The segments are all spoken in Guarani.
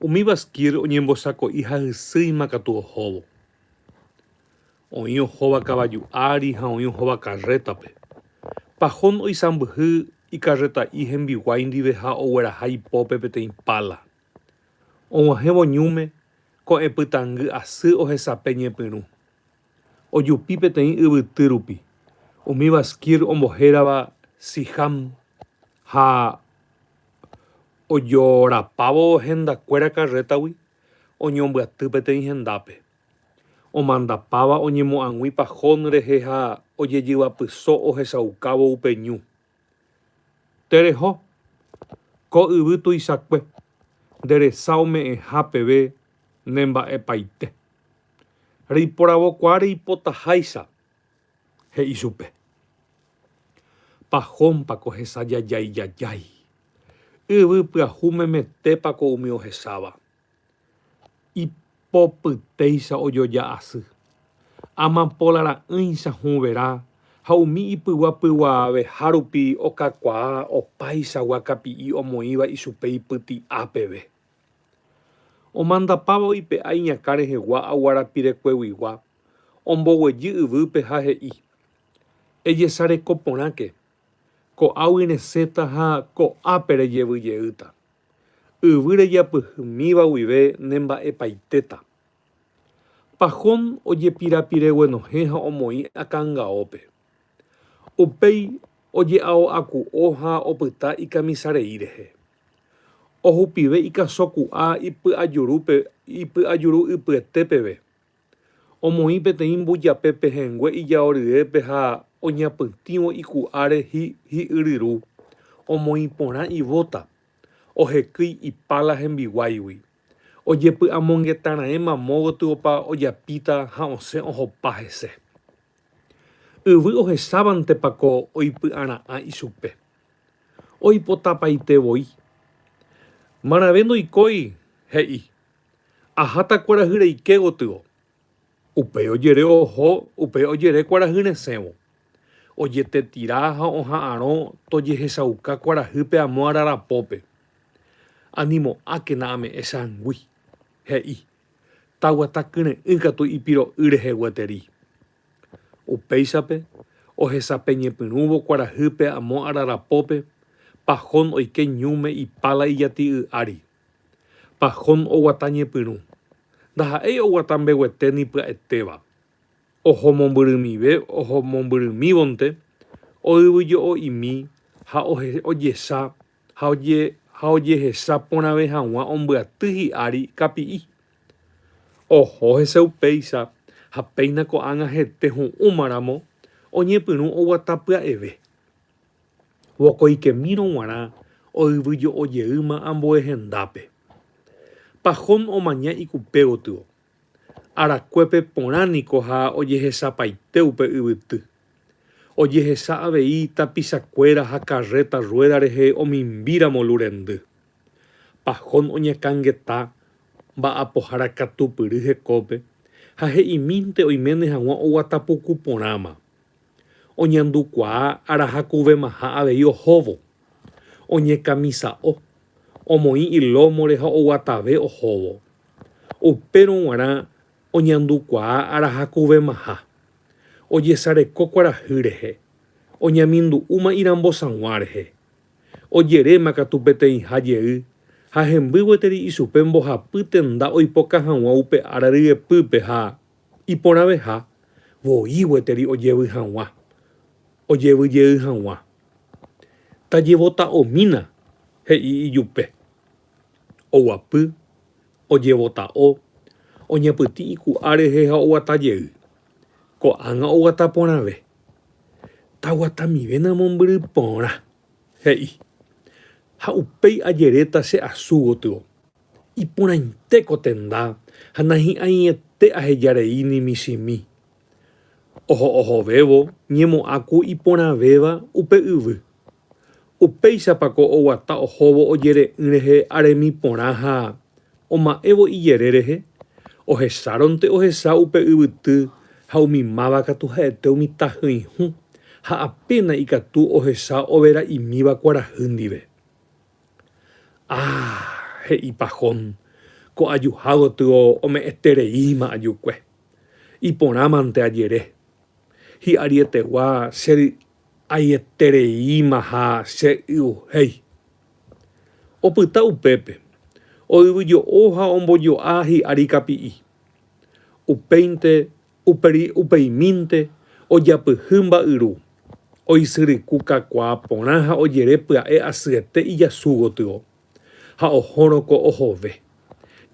Umi Bashkir oñembosako'i ha hysýima katu ohóvo. Oĩ ohóva kavaju ári ha oĩ ohóva karrétape. Pahón oisãmbyhy ikarreta'i hembiguái ndive ha ogueraha ipópe peteĩ pála. Og̃uahẽvo ñúme, ko'ẽ pytãngy asy ohesape ñepyrũ. Ojupi peteĩ yvyty rupi, umi Bashkir ombohérava Siham ha ojorapávo hendakuéra karrétagui oñombyaty peteĩ hendápe, omandapáva oñemo'ag̃ui pahón rehe ha ojejyvapyso ohechaukávo upe ñu. Tereho! Ko yvy tuichakue nde resa ome'ẽha peve ne mba'epaite. Reiporavokuaa reipotaháicha he'i chupe, Pajómpa ko hesa jajái jajái? Yvy pyahu memetépa ko umi ohecháva? Ipopytéicha ojoja asy. Amapola ra'ỹicha hũverã ha umi ipygua pyguaaveha rupi okakuaa opáichagua kapi'i omoĩva ichupe ipyti'a peve. Omandapávo ipe'a iñakã rehegua aguarapirekoeguigua, omboguejy yvýpe ha he'i, Ejesareko porãke, ko'águi resẽta ha ko'ápe rejevyjeýta. Yvy rejapyhymíva guive nemba'epaitéta. Pahón ojepirapireguenohẽ ha omoĩ akangaópe. Upéi oje'ao'aku'o ha opyta ikamisarei rehe. Ohupive ikaso ku'a ipy'ajurúpe ipy'ajuru ypyete peve. Omoĩ peteĩ mbujape pehẽngue ijao ryépe ha oñapytĩvo iku'áre hi hi'yryru, omoĩ porã ivóta, ohekýi ipála hembiguáigui. Ojepy'amongetarãéma mo gotyopa ojapíta ha osẽ ohopa hese. Yvy ohechávantepa ko oipy'ara'ã ichupe. oipotapaite voi. Marãve ndoikói, he'i. Aháta kuarahy reike gotyo. Upéi ojere oho upe ojere kuarahy resẽvo. Ojetetira ha oha'arõ tojehechauka kuarahýpe amo ararapópe. Animo'ákena ame'ẽ changui, he'i. Taguata kyre'ỹ katu ipiro'y rehe gueteri. Upéichape, ohesapeñepyrũvo kuarahýpe amo ararapópe, Pahón oike ñúme ipála ijati'y ári. Pahón oguata ñepyrũ. Ndaha'éi oguata mbeguete ni pya'etéva. Oho mombyrymive oho mombyrymívonte, oyvyjo'o'imi ha ojecha ha ojehecha porãve hag̃ua ombyaty hi'ári kapi'i. Oho hese upéicha ha péina ko'ág̃a hete ho'ũma ramo oñepyrũ oguata pya'eve. Vokoikemírõ g̃uarã oyvyjo'ojeýma ambue hendápe. Pahón omaña ikupe gotyo Arakuépe porã niko ha ojehechapaite upe yvyty. Ojehecha avei tapichakuéra ha karréta ruéda rehe omimbíramo lu rendy. Pahón oñakãngeta mba'apohára katupyry hekópe ha he'imínte oiméne hag̃ua oguata puku porãma. Oñandukuaa arahakovemaha avei ohóvo. Oñekamisa'o, omoĩ ilómore ha oguatave ohóvo. Upérõ g̃uarã oñandukuaa arahakovemaha. Ojesareko kuarahy rehe. Oñamindu'úma irambosag̃ua rehe. Ojeréma katu peteĩha jey ha hemby gueteri ichupe mbohapy tenda oipoka hag̃ua upe ára ryepýpe ha. iporãveha voi gueteri ojevy hag̃ua, ojevy jey hag̃ua. Tajevota'omína, he'i ijupe. Oguapy, ojevota'o, oñapytĩ iku'a rehe ha oguata jey. Ko'ág̃a oguata porãve. Taguatamivéna mombyry porã, he'i. Ha upéi ajeréta che asu gotyo. Iporãite ko tenda ha nahi'ãiete aheja rei ni michĩmi. Oho ohovévo ñemo'ã ku iporãvéva upe yvy. Upéichapa ko oguata ohóvo ojere'ỹ rehe aremi porã ha, oma'ẽvo ijere rehe, ohecháronte ohecha upe yvyty ha umi máva katu ha'ete umi tahỹihu ha apéna ikatu ohecha overa'imíva kuarahy ndive. Ah! he'ipa Jon, ko ajuha gotyo ome'ẽtereíma ajukue. Iporãmante ajere. Hi'arietegua che ry'aietereíma ha che y'uhéi. Opyta upépe, oyvyjo'o ha ombojo'a hi'ári kapi'i. Upéinte Upéi upeimínte ojapyhy mba'yru, oisyryku kakuaa porã ha ojere pya'e asyete ijasu gotyo, ha ohórõ ko ohove.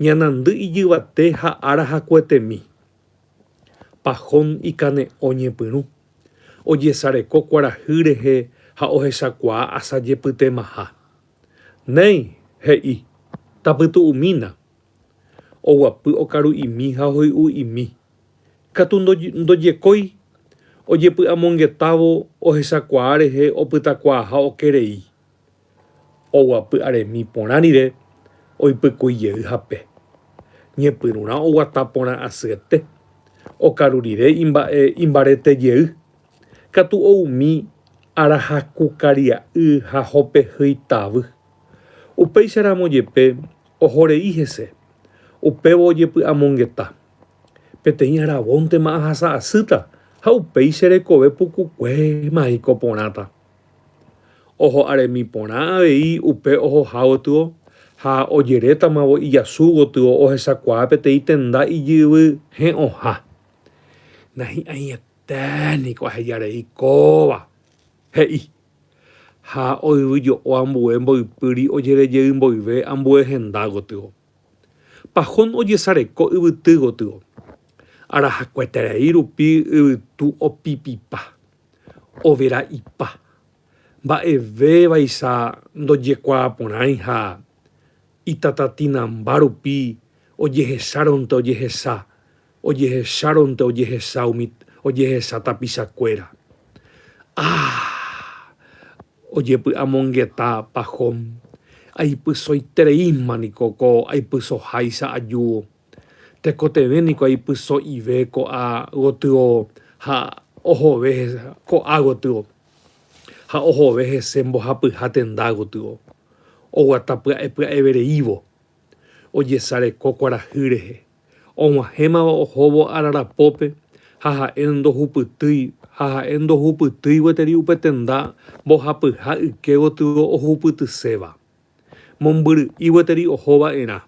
Ñanandy ijyvate ha ára hakuetemi. Pahón ikane'õ ñepyrũ, ojesareko kuarahy rehe ha ohechakuaa asajepytemaha. Néi! he'i. Tapytu'umína. Oguapy okaru'imi ha ohoy'u'imi. Katu ndojekói ojepy'amongetávo ohechakuaa rehe opytakuaaha okerei. Oguapy aremi porã rire oipykui jey hape. Ñepyrũrã oguata porã asyete. Okaru rire imba'e imbarete jey. Katu oumi ára haku karia'y ha hopehýi tavy. Upéicharamo jepe Oho rei hese. Upévo ojepy'amongeta. Peteĩ aravontema ahasa asýta, ha upéi che rekove pukukuéma eiko porãta. Oho aremi porã avei upe ohoha gotyo, ha ojerétamavo ijasu gotyo ohechakuaa peteĩ tenda ijyvy he'õha. Nahi'ãieténiko aheja rei kóva! he'i. ha oyvyjo'o ambue mboypýri ojerejey mboyve ambue henda gotyo. Pajón ojesareko yvyty gotyo. Arahakueterei rupi yvytu opipipa, overa'ipa, mba'eve vaicha ndojekuaaporãi ha itatatinamba rupi ojehechárõnte ojehecha, Ojehechárõnte ojehesa umi ojehesa tapichakuéra. Ah! Ojepy'amongeta Pahom. Aipysoitereíma niko ko aipysoháicha ajúo. Tekotevẽ niko aipyso'ive ko'a gotyo ha ohove ko'a gotyo. Ha ohove hese mbohapyha tenda gotyo. Oguata pya'epya'evereívo. Ojesareko kuarahy rehe. Og̃uahẽmava ohóvo ararapópe ha ha'e ndohupytýi ha ha'e ndohupytýi gueteri upe tenda mbohapyha yke gotyo ohupytyséva. Mombyry'i gueteri oho va'erã.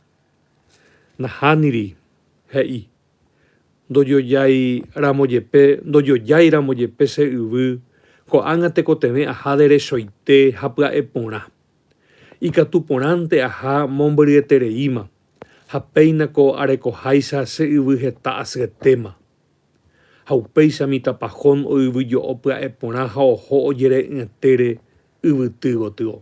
Nahániri, he'i. Ndojojái ramo jepe, ndojojái ramo jepe che yvy, ko'ág̃a tekotevẽ aha derechoite ha pya'e porã. Ikatu porãnte aha mombyryete reíma. ha péina ko arekoháicha che yvy heta asyetéma. Ha upéicha mitãpa Jón oyvyjo'o pya'e porã ha oho ojere'ỹetére yvyty gotyo.